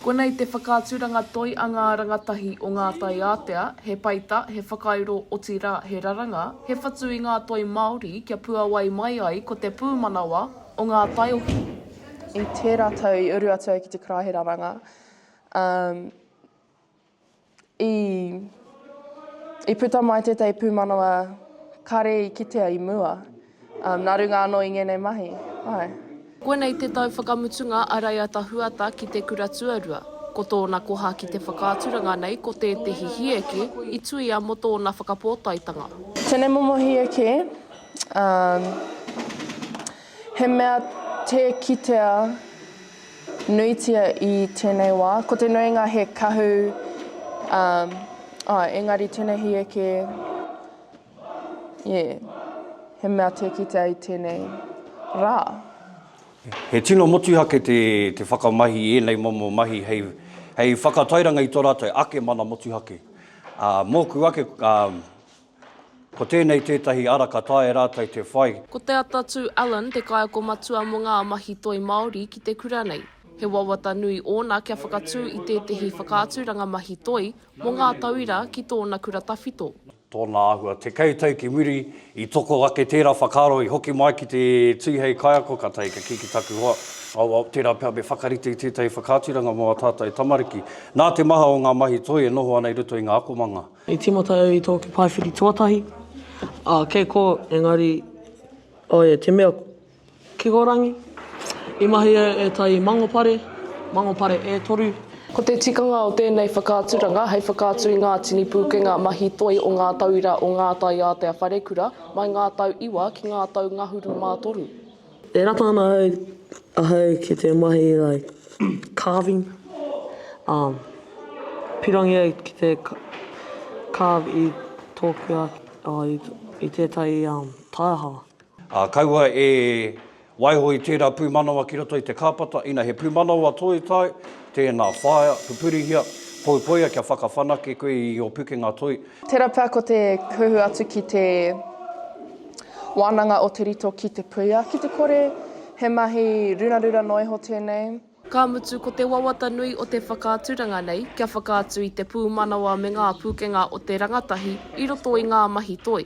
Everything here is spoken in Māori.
Konei te whakaaturanga toi a ngā rangatahi o ngā tai ātea, he peita, he whakairo, otirā, he raranga, he whatu i ngā toi Māori kia puawai mai ai ko te pūmanawa o ngā taiohi. I tērā tau i uru atu au ki te kura he raranga, umm. I puta mai tētahi pūmanawa kare i kitea i mua, nā runga anō i ngēnei mahi. Koinei te tau whakamutunga a Raiata Huata ki te kura tuarua. Ko tōna koha ki te whakaaturanga nei ko tētehi hieke i tuia mō tōna whakapōtaetanga. Tēnei momo hieke. He mea tē kitea nuitia i tēnei wā. Ko te nuinga he kahu, ā, ā, engari tēnei hieke, ie, he mea tē kitea i tēnei rā. He tino motuhake te whakamahi i ēnei momo mahi hei whakatairanga i tō rātou ake mana motuhake. Ā, mōku ake, ā, Ko tēnei tētahi ara ka taea e rātou te whai. Ko Te Atatū Allen te kaiako matua mō ngā mahi toi Māori ki te kura nei. He wawata nui ōna kia whakatū i tētahi whakaaturanga mahi toi mō ngā tauira ki tōna kura tawhito. Tōna āhua. Tekau tau ki muri, i toko ake tērā whakaaro, i hoki mai ki te tū hei kaiako, kātahi ka kī ki taku hoa, Awa, tērā pea me whakarite i tētahi whakaaturanga mō ā tātou tamariki. Nā te maha o ngā mahi toi e noho ana i roto i ngā akomanga. I tīmata au i tōku paewhiri tuatahi, ā, kei kō, engari, oē, te mea kikorangi. I mahi au e ētahi mangopare, mangopare e toru. Ko te tikanga o tēnei whakaaturanga hei whakaatu i ngā tini pūkenga mahi toi o ngā tauira o ngā taiātea wharekura mai ngā tau iwa ki ngā tau ngahuru mā toru. E rata ana ahau ki te mahi like carving, um, pirangi au ki te carve i tōku ake, oh, i, i tētahi um, taiaha. Ā, kaua e waiho i tērā pūmanawa ki roto i te kāpata, ina he pūmanawa toi tai, tēnā, whaia, pupurihia, poipoia kia whakawhanake koe i ō pukenga toi. Tērā pea ko te huhua atu ki te wānanga o Te Rito ki Te Puia, ki te kore he mahi rurarura noa iho tēnei. Ka mutu, ko te wawata nui o te whakaaturanga nei kia whakaatu i te pūmanawa me ngā pūkenga o te rangatahi i roto i ngā mahi toi.